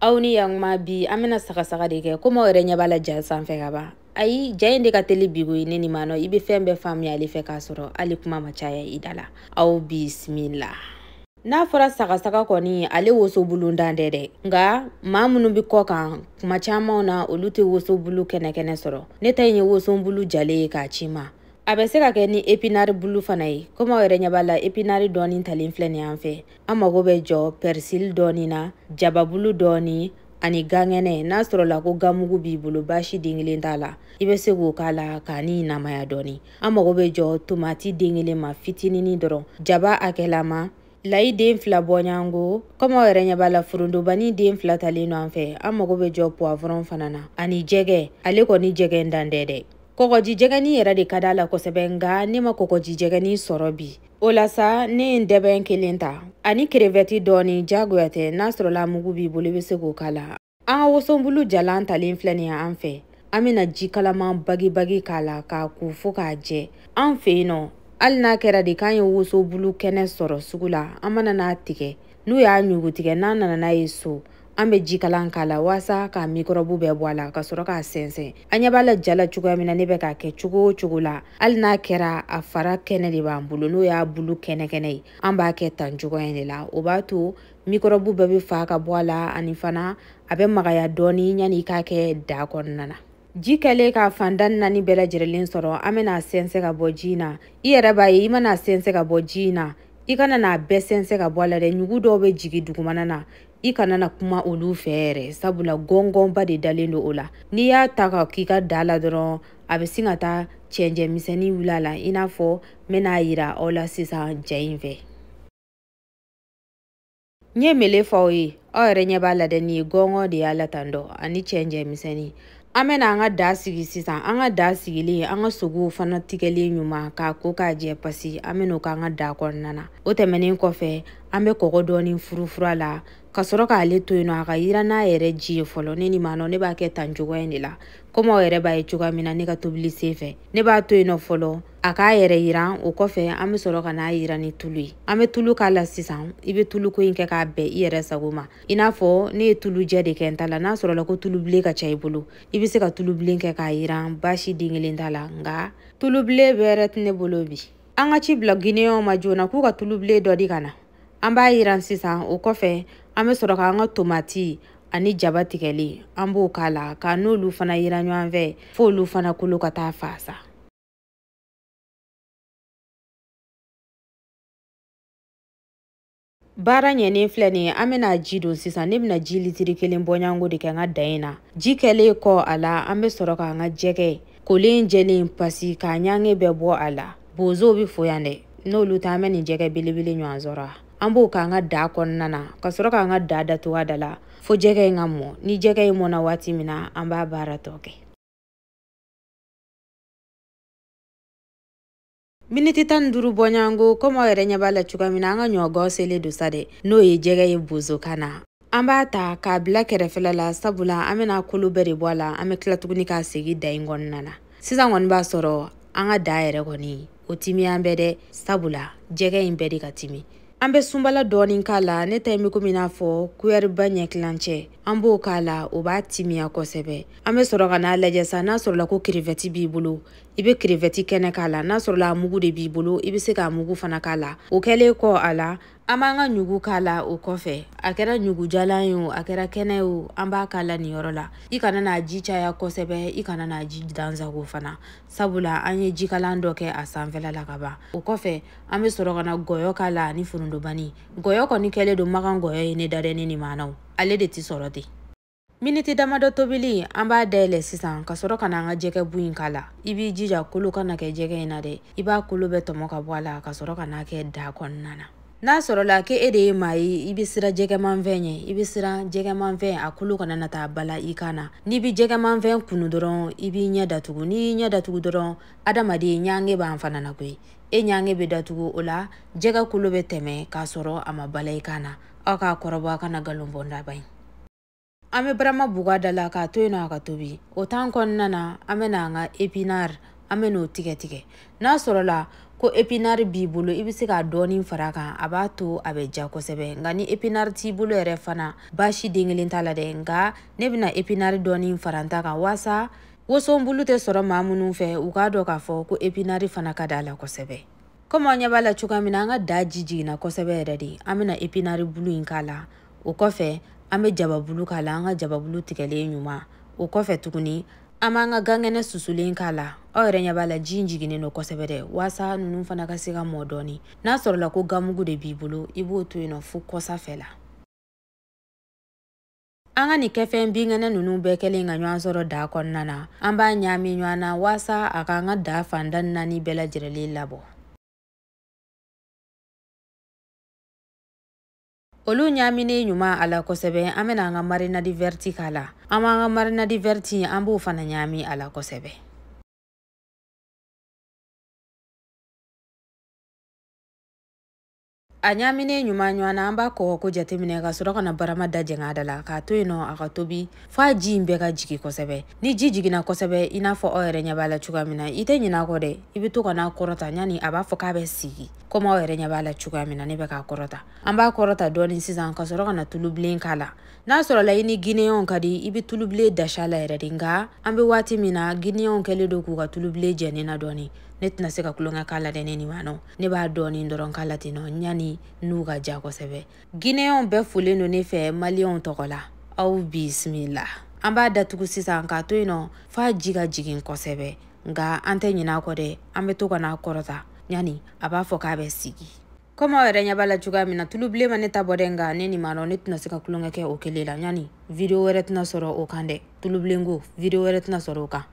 aw ni yanguma bi an bɛna sagasaga de kɛ komi aw yɛrɛ ɲɛ b'a la ja sanfɛ ka ban ayi ja in de ka teli bi ko ye ne ni maa nɔ i bɛ fɛn bɛɛ faamuya ale fɛ k'a sɔrɔ hali kuma ma caya i da la aw bisimila n'a fɔra sagasaga kɔni ale woso bulu dan tɛ dɛ nka maa minnu bɛ kɔ kan kuma camanw na olu tɛ woso bulu kɛnɛkɛnɛ sɔrɔ ne ta in ye woso bulu jalen ye k'a ci n ma a bɛ se ka kɛ ni epinari bulu fana ye komi aw yɛrɛ ɲɛ b'a la epinari dɔɔni talen filɛ nin y'an fɛ an mago bɛ jɔ pɛrisili dɔɔni na jababulu dɔɔni ani gan kɛnɛ n'a sɔrɔla ko ganmugu b'i bolo baasi den kelen t'a la i bɛ se k'o k'a la k'a ni namaya dɔɔni an mago bɛ jɔ tomati den kelen ma fitinini dɔrɔn jaba hakɛlama layi den fila bɔɲɔgɔnko kɔmi aw yɛrɛ ɲɛ b'a la forontobani den fila talen don an fɛ an mago bɛ jɔ puwavɔrɔn fana na ani jɛgɛ ale kɔni jɛgɛ dan tɛ dɛ kɔgɔjijɛgɛni yɛrɛ de ka d'a la kosɛbɛ nka ne ma kɔgɔjijɛgɛni sɔrɔ bi o la sa ne ye ntɛbɛn kelen ta ani kerevɛti dɔɔni jagoya tɛ n'a sɔrɔla mugu b'i bolo i bɛ se k'o k'a la an ka wosobulu jalan talen filɛ nin ye an fɛ an bɛna ji kalaman bagibagi k'a la k'a ko fo k'a jɛ an fɛ yen nɔ hali n'a kɛra de k'an ye wosobulu kɛnɛ sɔrɔ sugu la an mana n'a tigɛ n'u y'a ɲugutigɛ n'an nana n'a ye so an bɛ jikalan k'a la waasa k'a mikɔrɔbu bɛɛ bɔ a la ka sɔrɔ k'a sɛnsɛn an ɲɛ b'a la ja la cogoya min na ne bɛ k'a kɛ cogo o cogo la hali n'a kɛra a fara kɛnɛ de b'an bolo n'o y'a bulu kɛnɛkɛnɛ ye an b'a kɛ tan cogoya in de la o b'a to mikɔrɔbu bɛɛ bɛ fa ka bɔ a la ani fana a bɛ magaya dɔɔni yanni i k'a kɛ da kɔnɔna na ji kɛlen k'a fan tan naani bɛɛ lajɛrɛlen sɔrɔ an bɛn'a sɛnsɛn ka bɔ ji in na i yɛrɛ b'a ye i man'a sɛnsɛn ka bɔ ji in na i kana n'a bɛɛ sɛnsɛn ka bɔ a la dɛ ɲugu dɔw bɛ jigin dugumana na i kana na kuma olu fɛ yɛrɛ sabula gɔngɔnba de dalen don o la n'i y'a ta ka k'i ka da la dɔrɔn a bɛ sin ka taa cɛncɛn misɛnni wuli a la i n'a fɔ n bɛna a yira aw la sisan ja in fɛ n ye min le fɔ aw ye aw yɛrɛ ɲɛ b'a la dɛ nin ye gɔngɔn de y'a la tan dɔ ani cɛncɛn misɛnni an bɛna an ka da sigi sisan an ka da sigilen an ka sogow fana tigɛlen ɲuman k'a ko k'a jɛ pasi an bɛn'o k'an ka da kɔnɔna na o tɛmɛnen kɔfɛ an bɛ kɔgɔ dɔɔni furufuru a la ka sɔrɔ k'ale to yen nɔ a ka yiran n'a yɛrɛ ji ye fɔlɔ ne ni maa nɔ ne b'a kɛ tan cogoya in de la komi aw yɛrɛ b'a ye cogoya min na ne ka tobili sen fɛ ne b'a to yen nɔ fɔlɔ a k'a yɛrɛ yiran o kɔfɛ an bɛ sɔrɔ ka n'a yiran ni tulu ye an bɛ tulu k'a la sisan i bɛ tuluko in kɛ k'a bɛn i yɛrɛ sago ma i n'a fɔ ne ye tulu jɛ de kɛ n ta la n'a sɔrɔla ko tulu bilen ka ca i bolo i bɛ se ka tulu bilen kɛ k'a yiran baasi den kelen t'a la nka tulu bilen bɛrɛ tɛ ne bolo bi an ka ci bila gineyɛnw ma joona k'u ka tulu bilen dɔ di ka na an b'a yiran sisan o kɔfɛ an bɛ sɔrɔ k'an ka tomati ani jaba tigɛlen an b'o k'a la ka n'olu fana yiran ɲɔgɔn fɛ f'olu fana kolo ka taa fa sa baara ɲɛnen filɛ nin ye an bɛna ji don sisan ne bɛna ji litiri kelen bɔɲanko de kɛ n ka da in na ji kɛlen kɔ a la an bɛ sɔrɔ k'an ka jɛgɛ kolen jɛlen pasi k'a ɲange bɛɛ bɔ a la bozow bɛ fo yan dɛ n'olu tɛ an bɛ nin jɛgɛ belebele ɲɔgɔn sɔrɔ an b'o k'an ka da kɔnɔna na ka sɔrɔ k'an ka da datugu a da la fo jɛgɛ in ka mɔ ni jɛgɛ in mɔna waati min na an b'a baara tɔ kɛ miniti tan ni duuru bɔɲɔgɔnko komi aw yɛrɛ ɲɛ b'a la cogoya min na an ka ɲɔgɔn selen don sa dɛ n'o ye jɛgɛ ye bozokan na an b'a ta k'a bila kɛrɛfɛla la sabula an bɛna kolo bɛɛ de bɔ a la an bɛ tila tuguni k'a segin da in kɔnɔna na sisan kɔni b'a sɔrɔ an ka da yɛrɛ kɔni o timiyalen bɛ dɛ sabula jɛgɛ in bɛɛ de ka timi an bɛ sunbala dɔɔni k'a la ne ta in bɛ komi n'a fɔ kuyɛriba ɲɛ tilancɛ an b'o k'a la o b'a timiya kosɛbɛ an bɛ sɔrɔ ka n'a lajɛ sa n'a sɔrɔla ko krevɛti b'i bolo i bɛ krevɛti kɛnɛ k'a la n'a sɔrɔla a mugu de b'i bolo i bɛ se k'a mugu fana k'a la o kɛlen kɔ a la an b'an ka ɲugu k'a la o kɔfɛ a kɛra ɲugujalan ye o a kɛra kɛnɛ ye o an b'a k'a la nin yɔrɔ la i kana n'a ji caya kosɛbɛ i kana n'a ji dansago fana sabula an ye jikalan dɔ kɛ a sanfɛla la ka ban o kɔfɛ an bɛ sɔrɔ ka na gɔyɔ k'a la ani forondobani gɔyɔ kɔni kɛlen don makan gɔyɔ ye ne dadɛni ni maanaw ale de tɛ sɔrɔ ten miniti damadɔ tobili an b'a dayɛlɛ sisan ka sɔrɔ ka na an ka jɛgɛ bu in k'a la i b'i jija kolo kana kɛ jɛgɛ in na dɛ i b'a kolo bɛɛ tɔmɔ ka bɔ a la ka sɔrɔ ka n'a kɛ daa kɔnɔna na n'a sɔrɔla ke e de ye maa ye i bɛ siran jɛgɛmanfɛn ɲɛ i bɛ siran jɛgɛmanfɛn a kolo kana na taa bala i kan na n'i bɛ jɛgɛmanfɛn kunu dɔrɔn i b'i ɲɛ datugu n'i y'i ɲɛ datugu dɔrɔn adamaden ɲange b'an fana na koyi e ɲange bɛ datugu o la jɛgɛ kolo bɛ tɛmɛ k'a sɔrɔ a ma bala i kan na aw k'a kɔrɔbɔ a kana nkalon bɔ ndaba ye an bɛ barama buga da la k'a to yen nɔ a ka tobi o tan kɔnɔna na an bɛna an ka epinari an bɛ n'o tigɛ tigɛ n'a sɔrɔla ko epinari b'i bolo i bɛ se k'a dɔɔni fara a kan a b'a to a bɛ diya kosɛbɛ nka ni epinari t'i bolo yɛrɛ fana baasi den kelen t'a la dɛ nka ne bɛna epinari dɔɔni fara n ta kan waasa wosonbulu tɛ sɔrɔ maa minnu fɛ u k'a dɔn k'a fɔ ko epinari fana ka d'a la kosɛbɛ komi aw ɲɛ b'a la cogoya min na an ka da ji jiginna kosɛbɛ yɛrɛ de an bɛna epinari bulu in k'a la o kɔfɛ an bɛ jababulu k'a la an ka jababulu tigɛlen ɲuman o kɔfɛ tuguni an b'an ka gankɛnɛ susulen k'a la aw yɛrɛ ɲɛ b'a la ji in jiginnen don kosɛbɛ dɛ waasa ninnu fana ka se ka mɔ dɔɔni n'a sɔrɔla ko ganmugu de b'i bolo i b'o to yen nɔ fo kɔsa fɛ la an ka nin kɛfɛn binkɛnɛ ninnu bɛɛ kɛlen ka ɲɔgɔn sɔrɔ daa kɔnɔna na an b'a ɲaami ɲɔgɔn na waasa a k'an ka daa fan tan ni naani bɛɛ lajɛlen labɔ olu ɲaminen ɲuman a la kosɛbɛ an bɛna an ka marinadi vɛriti k'a la an b'an ka marinadi vɛriti an b'o fana ɲami a la kosɛbɛ a ɲaminen ɲuman ɲɔgɔn na an b'a kɔgɔ ko jateminɛ ka sɔrɔ ka na barama da jɛngɛ a da la k'a to yen nɔ a ka tobi f'a ji in bɛɛ ka jigi kosɛbɛ ni ji jiginna kosɛbɛ i n'a fɔ aw yɛrɛ ɲɛ b'a la cogoya min na i tɛ ɲinɛ a kɔ dɛ i bɛ to ka n'a kɔrɔta yanni a b'a fɔ k'a bɛ sigi komi aw yɛrɛ ɲɛ b'a la cogoya min na ne bɛ k'a kɔrɔta an b'a kɔrɔta dɔɔni sisan ka sɔrɔ ka na tulubilen k'a la n'a sɔrɔla i ni gineyɛnw ka di i bɛ tulubilen dasi a la yɛrɛ de nka an bɛ waati min na gineyɛnw kɛlen don k'u ka tulubilen jɛ ne na dɔɔni ne tɛna se ka tulonkɛ k'a la dɛ ne nin ma nɔ ne b'a dɔɔni dɔrɔn k'a la ten nɔ yanni n'u ka ja kosɛbɛ Guinéens bɛɛ folen don ne fɛ Maliens tɔgɔ la. Aw bisimila. An b'a datugu sisan k'a to yen nɔ f'a ji ka jigin kosɛbɛ. Nka an tɛ ɲinɛ a kɔ dɛ, an bɛ to ka n'a kɔrɔta ɲani a b'a fɔ k'a bɛ sigi. Komi aw yɛrɛ ɲɛ b'a la cogoya min na, tulu bilen ma ne ta bɔ dɛ, nka ne nin ma nɔ ne tɛna se ka tulonkɛ kɛ o kelen la ɲani video wɛrɛ tɛna sɔrɔ o kan dɛ. Tulu bilenko, video wɛrɛ tɛna sɔrɔ o kan.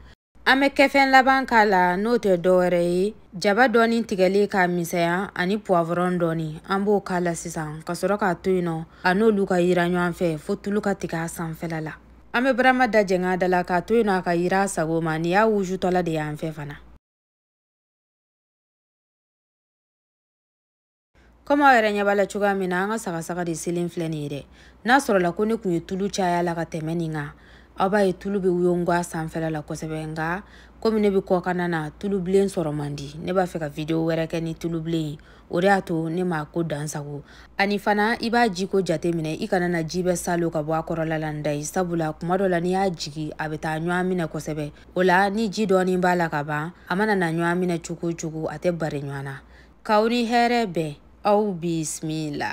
An bɛ kɛfɛn laban k'a la n'o tɛ dɔwɛrɛ ye jaba dɔɔni tigɛlen k'a misɛnya ani puwavɔrɔn dɔɔni an b'o k'a la sisan ka sɔrɔ k'a to yen nɔ a n'olu ka yira ɲɔgɔn fɛ fo tulu ka tigɛ a sanfɛla la an bɛ barama da jɛng'a da la k'a to yen nɔ a ka yira a sago ma nin y'a wujutɔla de y'an fɛ fana kɔmi aw yɛrɛ ɲɛ b'a la cogoya min na an ka sagasaga de selen filɛ nin ye dɛ n'a sɔrɔla ko ne tun ye tulu caya la ka tɛmɛ nin kan aw b'a ye tulu bɛ wuyongo a sanfɛla la kosɛbɛ nka komi ne bɛ kɔkanna na tulu bilen sɔrɔ man di ne b'a fɛ ka video wɛrɛ kɛ ni tulu bilen ye o de y'a to ne m'a ko dansagon ani fana i b'a jiko jate minɛ i kana na ji bɛɛ salon ka bɔ a kɔrɔla la nda ye sabula kuma dɔ la n'i y'a jigi a bɛ taa ɲɔgɔn minɛ kosɛbɛ o la ni ji dɔɔnin b'a la ka ban a mana na ɲɔgɔn minɛ cogo o cogo a tɛ bari ɲɔgɔn na k'aw ni hɛrɛ bɛn aw bisimila